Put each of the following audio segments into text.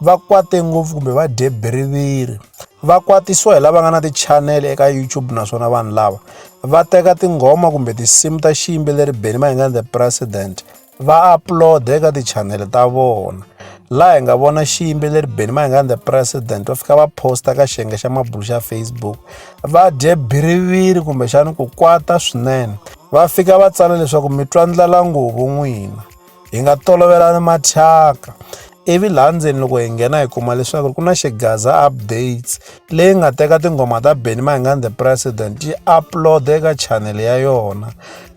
va kwate ngopfu kumbe va dye biriviri va kwatisiwa hi lava nga na tichanele eka youtube naswona vanhu lava va teka tinghoma kumbe tinsimu ta xiyimbeleri beni mayengani the president va upload-a eka tichanele ta vona laha hi nga vona xiyimbeleri beni mayengani the president va fika va posta ka xiyenge xa mabulu xa facebook va dye biriviri kumbexani ku kwata swinene va fika va tsala leswaku mi twa ndlala nguvu n'wina hi nga tolovelani mathyaka ivi laha ndzeni loko hi nghena hi kuma leswaku ku na xigaza updates leyi nga teka tinghoma ta benny mahingani the president yi upload eka channel ya yona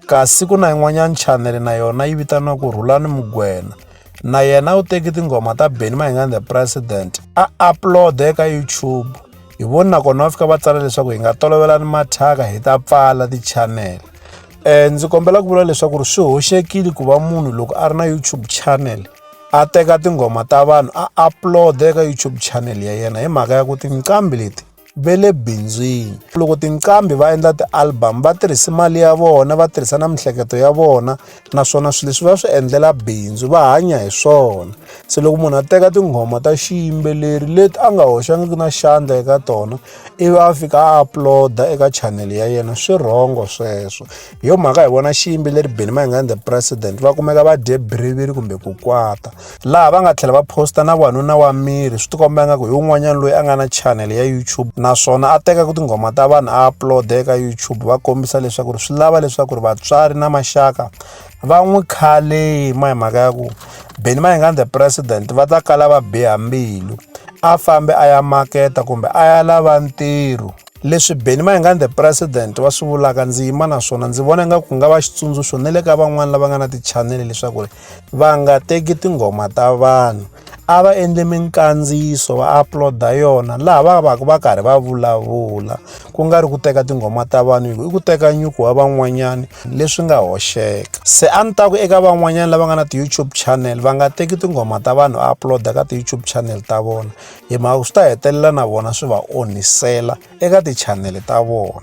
kasi ku na yin'wanyana channel na yona yi vitaniwa ku rhulani mugwena na yena u teki tinghoma ta benny mahingani the president a upload eka youtube hi voni nakona va fika va tsala leswaku hi nga tolovelani mathyaka hi ta pfala tichanele um ndzi kombela ku vula leswaku ri swi hoxekile ku va munhu loko a ri na youtube channel a teka tinghoma ta vanhu a upload eka youtube channel ya yena hi mhaka ya ku tinqambi leti ve le bindzwini loko tinqambi va endla ti-album va tirhisi mali ya vona va tirhisa na miehleketo ya vona naswona swilo leswi va swi endlela bindzu va hanya hi swona se loko munhu a teka tinghoma ta xiyimbeleri leti a nga hoxangiki na xandla eka tona ivi a fika a uploada eka chanele ya yena swi rhongo sweswo hi yo mhaka hi vona xiyimbeleri benimangani the president va kumeka va dye biriviri kumbe ku kwata laha va nga tlhela va posta na wanuna wa miri swi tikomba nga ku hi un'wanyana loyi a nga na channel ya youtube naswona a teka ku tinghoma ta vanhu a upload eka youtube va kombisa leswaku ri swi lava leswaku ri vatswari na maxaka va n'wi khale ma hi mhaka ya ku beni ma hi nga the president va ta kala va biha mbilu a fambe a ya maketa kumbe a ya lava ntirho leswi beni mayingani the president wa swi vulaka ndzi yima naswona ndzi vona nga ku nga va xitsundzuxo na le ka van'wani lava nga na tichanele leswaku ri va nga teki tinghoma ta vanhu a va endli minkandziyiso va upload-a yona laha va va ka va karhi va vulavula ku nga ri ku teka tinghoma ta vanhu hi ku i ku teka nyuku wa van'wanyana leswi nga hoxeka se a ni ta ku eka van'wanyana lava nga na ti-youtube channel va nga teki tinghoma ta vanhu va upload-a ka ti-youtube channel ta vona hi mhaka swi ta hetelela na vona swi va onhisela eka ti-channel ta vona